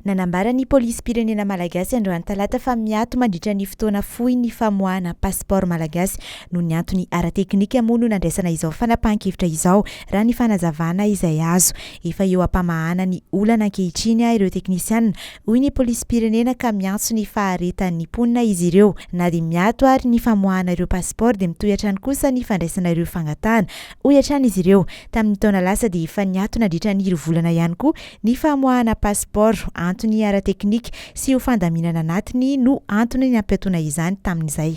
Nanambara ny Polisim-pirenena Malagasy androany talata fa miato mandritra ny fotoana fohy ny famoahana pasipaoro Malagasy noho ny antony ara-teknika moa no nandraisana izao fanapahan-kevitra izao raha ny fanazavana izay azo. Efa eo am-pamahana ny olana ankehitriny ireo teknisiana hoy ny Polisim-pirenena ka miantso ny faharetan'ny mponina izy ireo. Na dia miato ary ny famoahana ireo pasipaoro dia mitohy hatrany kosa ny fandraisana ireo fangatahana hoy hatrany izy ireo. Tamin'ny taona lasa dia efa niato nandritra ny roa volana ihany koa Ny famoahana pasipaoro, antony ara-teknika, sy ho fandaminana anatiny no antony nampiatoana izany tamin'izay.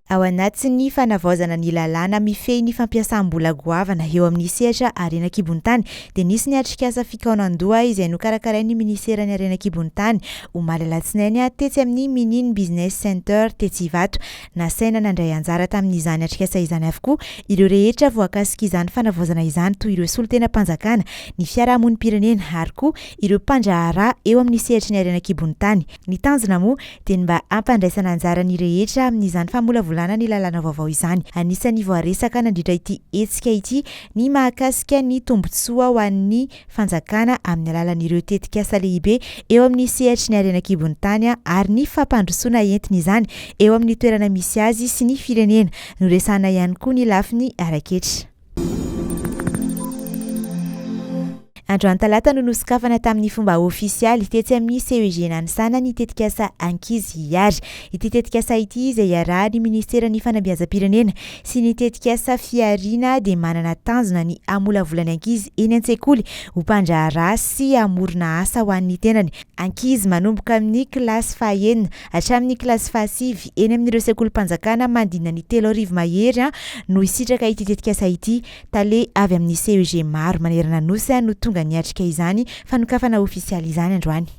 Ao anatin'ny fanavaozana ny lalàna mifehy ny fampiasam-bola goavana eo amin'ny sehatra harena an-kibon-tany dia nisy ny atrikasa fikaonan-doha izay nokarakarain'ny Minisiteran'ny Harena an-kibon-tany, omaly alatsinainy, tetsy amin'ny Minin Business Center tetsy Ivato. Nasaina nandray anjara tamin'izany atrikasa izany avokoa ireo rehetra voakasik'izany fanavaozana izany toy ireo solontenam-panjakana, ny fiarahamonim-pirenena ary koa ireo mpandraharaha eo amin'ny sehatry ny harena an-kibon'ny tany. Ny tanjona moa dia ny mba hampandraisana anjara ny rehetra amin'izany famolavolana ny lalàna vaovao izany. Anisan'ny voaresaka nandritra ity hetsika ity ny mahakasika ny tombontsoa ho an'ny. fanjakana amin'ny alalan'ireo tetikasa lehibe eo amin'ny sehatry ny harena an-kibon'ny tany ary ny fampandrosoana entiny izany eo amin'ny toerana misy azy sy ny firenena. Noresahana ihany koa ny lafiny ara-ketra. Androany talata no nosokafana tamin'ny fomba ofisialy tetsy amin'ny CEG Nanisana ny tetikasa Ankizy Hihary. Ity tetikasa ity izay iarahan'ny Ministeran'ny Fanabeazam-pirenena, sy ny tetikasa Fihariana dia manana tanjona ny hamolavola ny ankizy eny an-tsekoly ho mpandraharaha sy hamorona asa ho an'ny tenany. Ankizy manomboka amin'ny kilasy fahaenina hatramin'ny kilasy fahasivy eny amin'ireo sekolim-panjakana manodidina ny telo arivo mahery no hisitraka ity tetikasa ity. Tale avy amin'ny CEG maro manerana Nosy no tonga niatrika izany fanokafana ofisialy izany androany.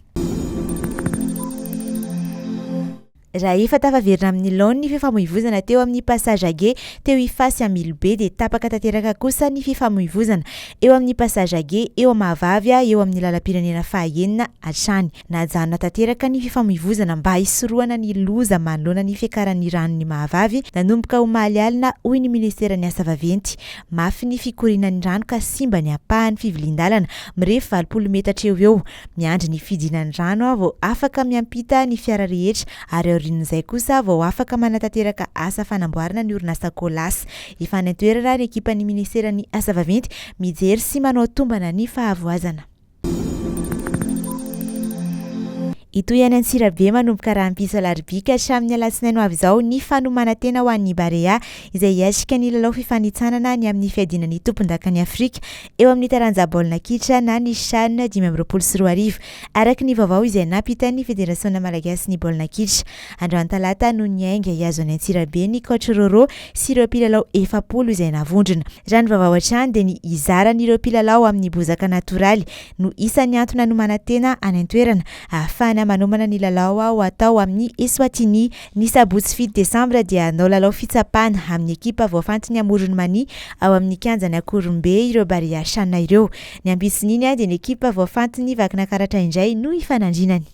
Raha efa tafaverina amin'ny laoniny ny fifamoivozana teo amin'ny Passage Age teo Ifaha sy Ambilobe dia tapaka tanteraka kosa ny fifamoivozana eo amin'ny Passage Age eo Mahavavy eo amin'ny lalam-pirenena fahaenina hatrany. Najanona tanteraka ny fifamoivozana mba hisorohana ny loza manoloana ny fiakaran'ny ranon'i Mahavavy nanomboka omaly alina hoy ny minisiteran'ny asa vaventy. Mafy ny fikorianan'ny rano ka simba ny ampahany fivilian-dalana mirefy valopolo metatra eo ho eo. Miandry ny fidinan'ny rano aho vao afaka miampita ny fiara rehetra ary aorian'izay kosa aho vao afaka manatanteraka asa fanamboarana ny orinasa Colas. Efa any an-toerana ny ekipan'ny minisiteran'ny Asa vaventy mijery sy manao tombana ny fahavoazana. Hitohy any Antsirabe manomboka rahampitso alarobia ka hatramin'ny alatsinainy ho avy izao ny fanomanantena ho an'ny Barea izay hiatrika ny lalao fifanintsanana ny amin'ny fiadiana ny tompondakan'i Afrika eo amin'ny taranja baolina kitra na ny Chan dimy amby roapolo sy roa arivo, araka ny vaovao izay nampitan'ny Federasionina malagasin'ny baolina kitra. Androany talata no niainga hihazo an'i Antsirabe ny Coach Roro sy ireo mpilalao efapolo izay navondrona. Raha ny vaovao hatrany dia ny hizaran'ireo mpilalao amin'ny bozaka natoraly no isan'ny antony nanomanantena any an-toerana ahafahana manomana ny lalao ho atao amin'ny Eswatini Ny sabotsy fito desambra dia hanao lalao fitsapana amin'ny ekipa voafantin'ny Amoron'i Mania ao amin'ny kianjan'i Ankoronbe ireo Barea Shanna ireo. Ny ampitson'iny dia ny ekipa voafantin'ny Vakinakaratra indray no hifanandrinany.